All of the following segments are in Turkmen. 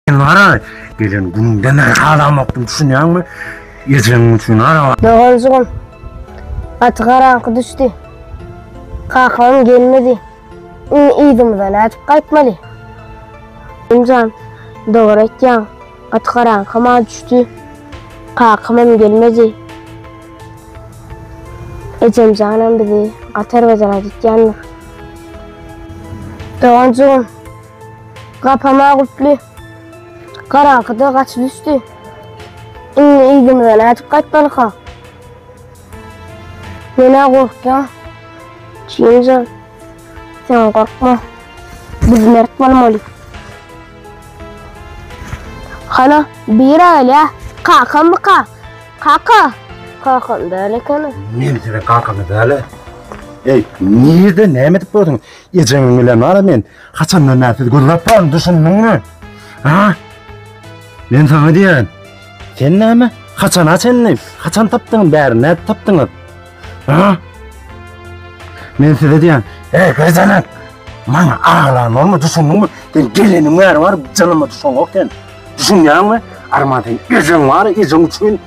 Sen ara gelen gününden aralamaqdym düşünýäňmi? Ejeň üçin ara. Doganjygym. Gaty garaňky düşdi. Kakam gelmedi. Indi yzymyza nädip gaýtmaly? Imjan, dogry aýtýaň. Gaty garaňky ma düşdi. Kakam hem gelmedi. Ejemjanam bizi gaty erbet radytýandyr. Doganjygym. Gapama guply. Garaňkyda gaç düşdi. Indi ýüzümize nädip gaýtmalyka? Menä gorkýan. Çinje. Sen gorkma. Biz mert bolmaly. Hana, bir aýla. Kakam mı ka? Kaka. Kakam däl ekeni. Nemi sene kakamı däle? Ey, nirde näme edip gördün? Eceňin bilen bana men Haçandan bäri sizi gözläp duraryn, düşündiňmi? Ha? Men saňa diýen. Sen näme? Haçan açandy? Haçan tapdyň bäri? Nädip tapdyňyz? Ha? Men size diýen. Ey, gözenen. Maňa aglan bolma, düşündiňmi? Sen geleniň bäri bar, janyma düşen yok sen. Düşünýäňmi? Arman sen ejeň bar, ejeň üçin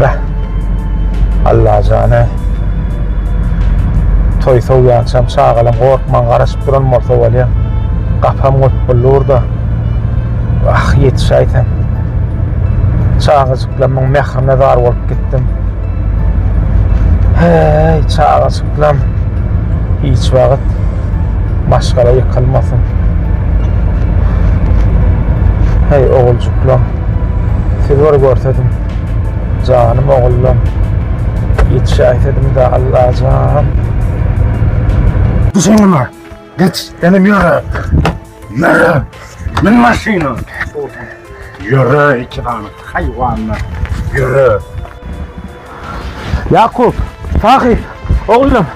Beh. Allajan ey. Toý sowýançam çagalam gorkman garaşyp duran bolsa bolýa. Gapam gopbully burda. Wah, ýetişäý sen. Çagajyklamyň mährine zar bolup gitdim. Heý, çagajyklam hiç wagt maşgala ýykylmasyn. Heý, oguljyklam. Siz bir görsediň. Janym ogullam. Ýetişäýsediňdä Allajan. Düşeňem bar. Geç, senem ýöre. Ýöre. Men maşyna. Ýöre iki sany haýwanlar. Ýöre. Ýakup, Sahyp, ogullam.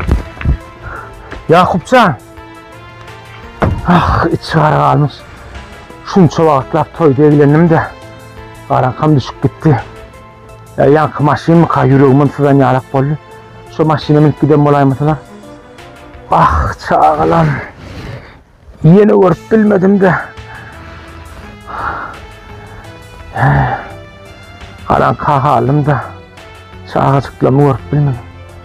Ýakupjan. Ah, içi gara galmyş. Şunça wagtlap toýda eglendim-de, garaňkam düşüp gitdi. Ýa ýaňky maşynmyka, ýüregimem syzan ýalak boldy. Şo maşyna münüp giden bolaýmasylar. Ah, çagalam. Ýene görüp bilmedim-de. Garaňka galdym-da, çagajyklamy görüp bilmedim.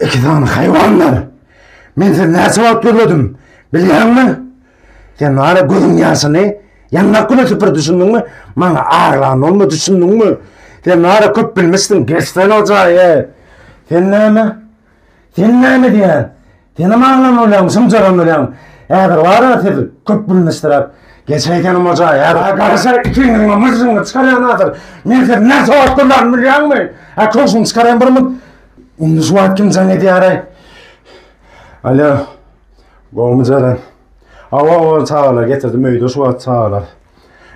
İki tane hayvanlar. Men seni näçe wagt gözledim. Bilýäňmi? Sen bana gözüň ýaşyny ýanlap güne süpür düşündiňmi? Maňa aglan olma düşündiňmi? Sen bana köp bilmişsin. Geçsen o jaýy. Sen näme? Sen näme diýýän? Sen hem aglan bolýaň, şumjaran bolýaň. Häzir bara siz köp bilmişdiräp. Geçeýsenim o jaýy. Häzir garaşa ikiňiziň myžžyňy çykarýan häzir. Men sizi näçe wagt gözledim bilýäňmi? Ha köşüňi çykarýan bir mut. Onda şu wagt kim jaň edýäraý? Alo. Gowmy Jeren? Awa, awa, çagalar getirdim öýde şu wagt çagalar.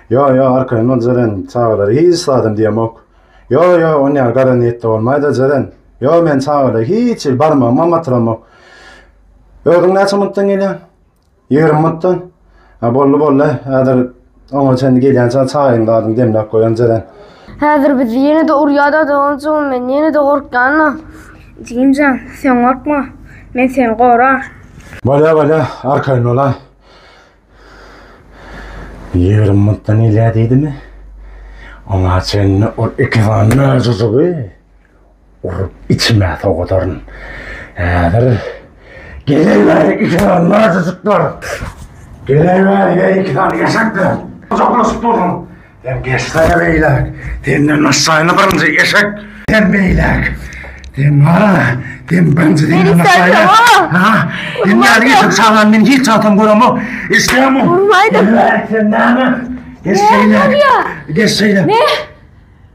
Yo, yo, arkaýyn ol Jeren, çagalar hiç zadam diýemok. Yo, yo, on ýaly gara niýetde bolmaýda Jeren. Yo, men çagalar hiç hil barmagyma matyramok. Özüň näçe minutdan gelýäň? Ýigrimi minutdan Ha boldy boldy. Häzir oňa çenli gelýänçä çaýyň zadyň demläp goýan jeren. Häzir bizi ýene-de urýada da onuň üçin men ýene-de gorkýan-da. Jigimjan, sen gorkma. Men seni gorar. Bolýa bolýa, arkaýyn bolaý. Ýigrimi minutdan gelýä diýdimi? Oňa çenli ol iki sany möjejigi Urup içime sowadaryn. Häzir geleýär iki sany narsajyklar. Geleýär ýa iki sany eşekler. Uzaklaşyp durun. Sen geçsene beýläk. Senden aşaýyny birinji eşek. Sen beýläk. Sen ha, sen birinji senden aşaýyny. Ha, sen näme geçip çalan men hiç çatam göremok. Eşeğimi. Urmaydım. Sen näme? Geç beýläk. Geç beýläk. Ne?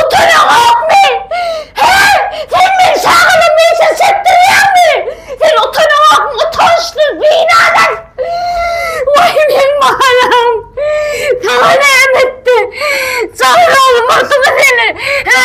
Utanaňokmy? Hä? Sen meni şagalymyň içine çekdirýäňmi? Sen utanaňokmy, utançsyz, binanys? Waý, meň balam! Saňa näme etdi? Jaýraly murtly seni! Hä?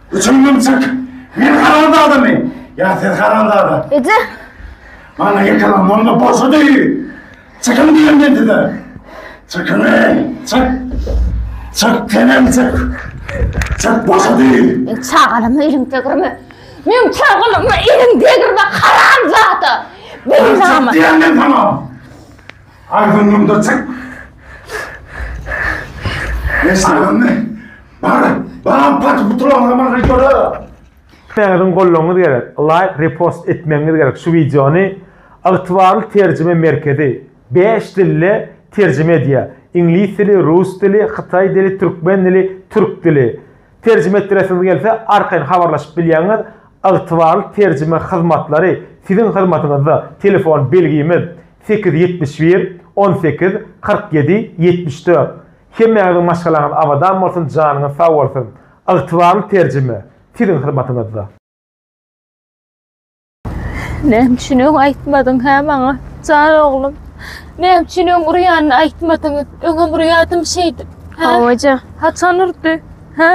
Üçüňden çyk! Men haramzadamy? Ýa siz haramzada? Eje! Maňa ýykylan bolma boşady! Çykyň diýen men size! Çykyň ey! Çyk! Çyk tenem çyk! Çyk boşady! Men çagalama eliň degirme! Men çagalama eliň degirme haramzada! Çyk Beýnama! diýen men saňa! Agzyňdan da çyk! Eşidiňmi? Bana, bana parça butulanlar bana videoda. Siziň gollaňyz gerek, laýk, repost etmegiňiz gerek şu wideony. Ygtybarly terjime merkezi bäş dilde terjime edýär. Iňlis dili, rus dili, hytaý dili, türkmen dili, türk dili. Terjime etdiresiňiz gelse, arkaýyn habarlaşyp bilýäňiz. Ygtybarly terjime hyzmatlary siziň hyzmatyňyzda. Telefon belgimiz, sekiz ýüz ýetmiş bir, on sekiz, kyrk ýedi, ýetmiş dört. Hemmäňiziň maşgalaňyz abadan bolsun janyňyz sag bolsun Ygtybarly terjime siziň hyzmatyňyzda. Näme üçin öň aýtmadyň hä maňa jan oglum? Näme üçin öň urýanyny aýtmadyň? Öňem urýadym şeýdip. Hawaja. Haçan urdy? Hä?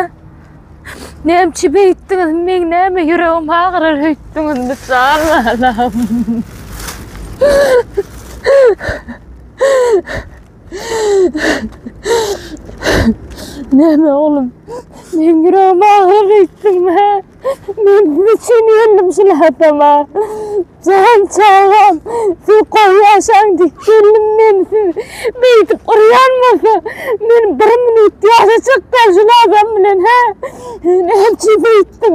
Näme üçin beýtdiňiz? Meň näme ýüregim agyrar öýtdüňizmi jan balam? Näme oglum? Men ýüregim agyryp gitdim. Men üçin ýöndüm şu hatama. Jan çagam, siz gowy ýaşaň diýip geldim men siz. Beýdip urýan bolsa, men bir minut ýaşajakdan şu adam bilen, hä? Näçe beýtdim.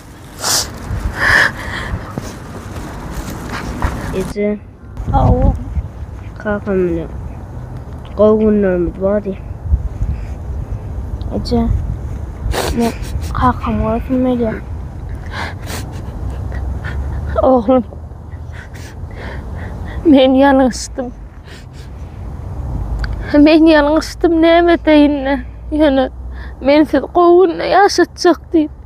Ece. Awa. Kakam bilen. Gowy günlerimiz bardy. Ece. Men kakam görsün Melya. Oglum. Men ýalňyşdym. Men ýalňyşdym näme edeýin-le. Ýöne men sizi gowy günde ýaşatjak diýip.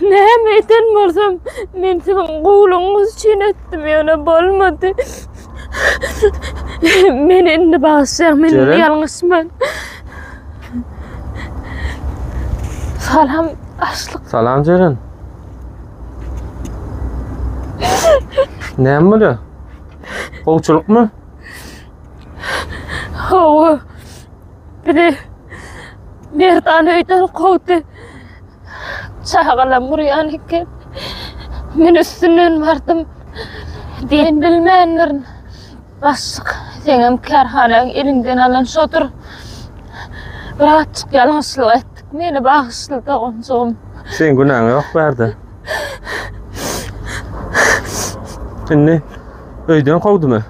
Näme eden bolsam, men siziň gowulygyňyz üçin etdim, ýöne bolmady. Men indi bagşy, men indi ýalňyşman. Salam, açlyk. Salam Jeren. Näme bolýar? Gowçulykmy? Hawa. Biri Merdan öýden kowdy. Çagalam urýan eken. Men üstünden bardym. Diýen bilmändirin. Başlyk, seňem kärhanaň eliňden alan şodur. Bir azjyk ýalňyşlyk etdik. Meni bagyşla doganjygym. Seň günäň ýok bärde. Indi öýden kowdumy?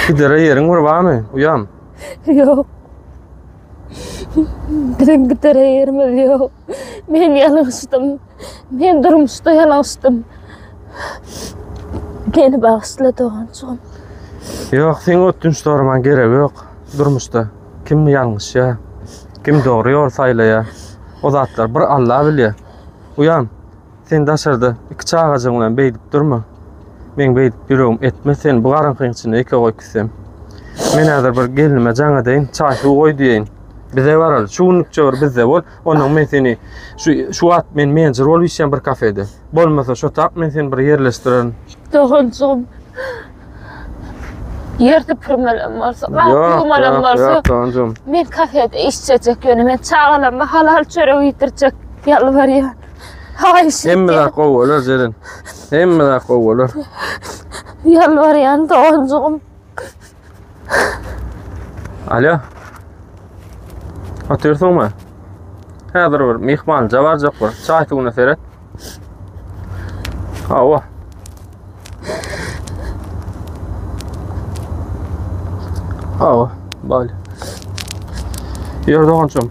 Gidere ýeriň bir barmy, uýam? Ýok. Biziň gidere ýerimiz ýok. Men ýalňyşdym. Men durmuşda ýalňyşdym. Meni bagyşla doganjygym. Ýok, seň ötünç soramaň geregi ýok. Durmuşda kim ýalňyşýar, kim dogry ýol saýlaýar, o zatlar bir Alla bilýär. Uýam, Sen daşarda iki çagajygyň bilen beýdip durma. Men beýdip ýüregim etme sen bu garaňkyň içinde eke goý küsem. Men häzir bir gelnime jaň edeýin, çaý suw goý diýeýin. Bize baral, şu günlükçe bir bizde bol, ondan men seni şu şu wagt men menjir bolup işýän bir kafede. Bolmasa şo tap men seni bir ýerleşdirerin. Doganjygym. Ýer süpürmelem bolsa, gapy ýumalem bolsa. Ýok, doganjygym. Men kafede işjejek ýöne men çagalarma halal çörek iýdirjek ýalbarýan. Haýyş etýän. Hemme zat gowy bolar Zeren. Hemme zat gowy bolar. Ýalbarýan doganjygym. Alýo. Otyrsyňmy? Häzir bir myhmanja barjak bir. Çaý suwuna seret. Hawa. Awa, bal. Ýör dogançym.